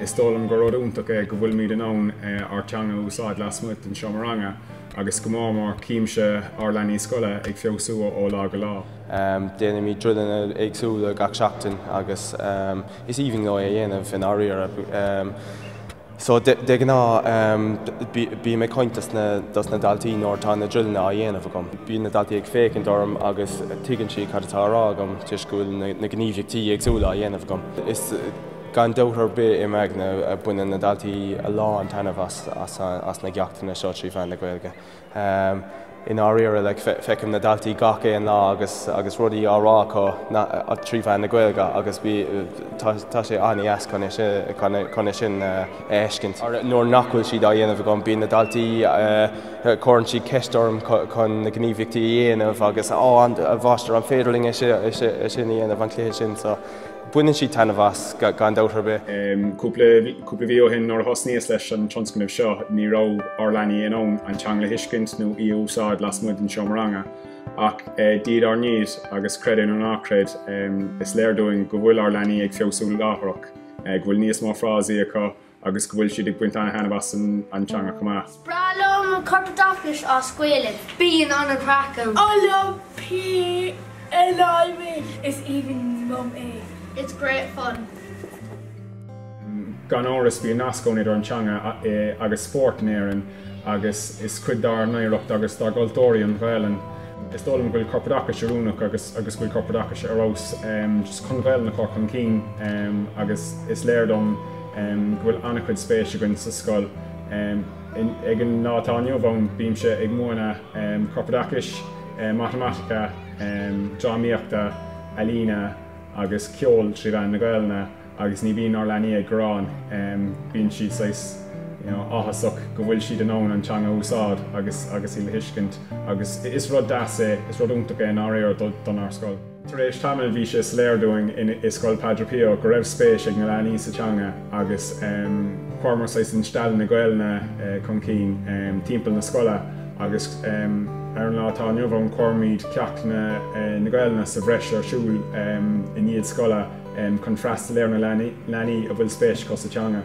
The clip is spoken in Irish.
Is dóigh liom gur rud iontach é go bhfuilimid in ann ár teanga a úsáid lasmuigh den seomra ranga agus go mór mór címse ár leanaí scoile ag feabhsú ó lá go lá. Déanaimid druileanna éagsúla gach seachtain agus is aoibhinn leo é a dhéanamh i ndáiríre. So de ghnáth bím ag caint dos na daltaí nuair atá na druileanna á dhéanamh agam. Bíonn na daltaí ag féachaint orm agus tuigeann siad cad atá á rá agam toisc go bhfuil na gníomhaíochtaí éagsúla á dhéanamh agam. Gan dabht ar bith im aigne baineann na daltaí a lán taitnimh as na gceachtanna seo trí mheán na Gaeilge. I ndáiríre like feicim na daltaí gach aon lá agus agus rudaí á rá acu trí mheán na Gaeilge agus tá sé an-deas chun é sin a fheiscint. Nuair nach bhfuil siad á dhéanamh agam bíonn na daltaí cuireann siad ceist orm chun na gníomhaíochtaí a dhéanamh agus a mháistir an féidir linn é sin a dhéanamh an cluiche sin so Baineann siad taitneamh as, gan dabht ar bith. Cúpla mhí ó shin, nuair a thosnaíos leis an tionscnamh seo, ní raibh ár leanaí in ann an teanga a thuiscint nó í a úsáid lasmuigh den seomra ranga. Ach diaidh ar ndiaidh, agus creid é nó ná creid, is léir dúinn go bhfuil ár leanaí ag feabhsú láithreach, go bhfuil níos mó frásaí acu, agus go bhfuil siad ag baint an-thaitneamh as an teanga chomh maith. Is breá liom an corpoideachais as Gaeilge. Bíonn an-chraic agam PE and I! Is aoibhinn liom é. It's great fun. Gan amhras, bíonn nasc ann idir an teanga agus spórt in Éirinn agus is cuid dár n-oidhreacht agus dár gcultúr í an Ghaelainn. Is dóigh liom go bhfuil corpoideachais oiriúnach agus go bhfuil corpoideachais ar fheabhas chun an Ghaelainn a chur chun cinn agus is léir dom, go bhfuil an-chuid spéis againn sa scoil. Ag an lá atá inniu ann bímse ag múineadh corpoideachais, matamaitice, drámaíochta, ealaíne agus ceol trí mheán na Gaelainne agus ní bhíonn ár leanaí ag gearán, bíonn siad saghas, you know, áthasach go bhfuil siad in ann an teanga a úsáid agus agus í le thuiscint agus is rud deas é, is rud iontach é i ndáiríre donár scoil. Tar éis tamaill bhí sé soiléir dúinn in i Scoil Padre Pio go raibh spéis ag na leanaí sa teanga agus chuireamar saghas instealladh na Gaelainne chun cinn timpeall na scoile agus ar an lá atá inniu ann cuirimid ceachtanna Gaelainne sa bhreis ar siúl i ndiaidh scoile chun freastal ar na leanaí a bhfuil spéis acu sa teanga.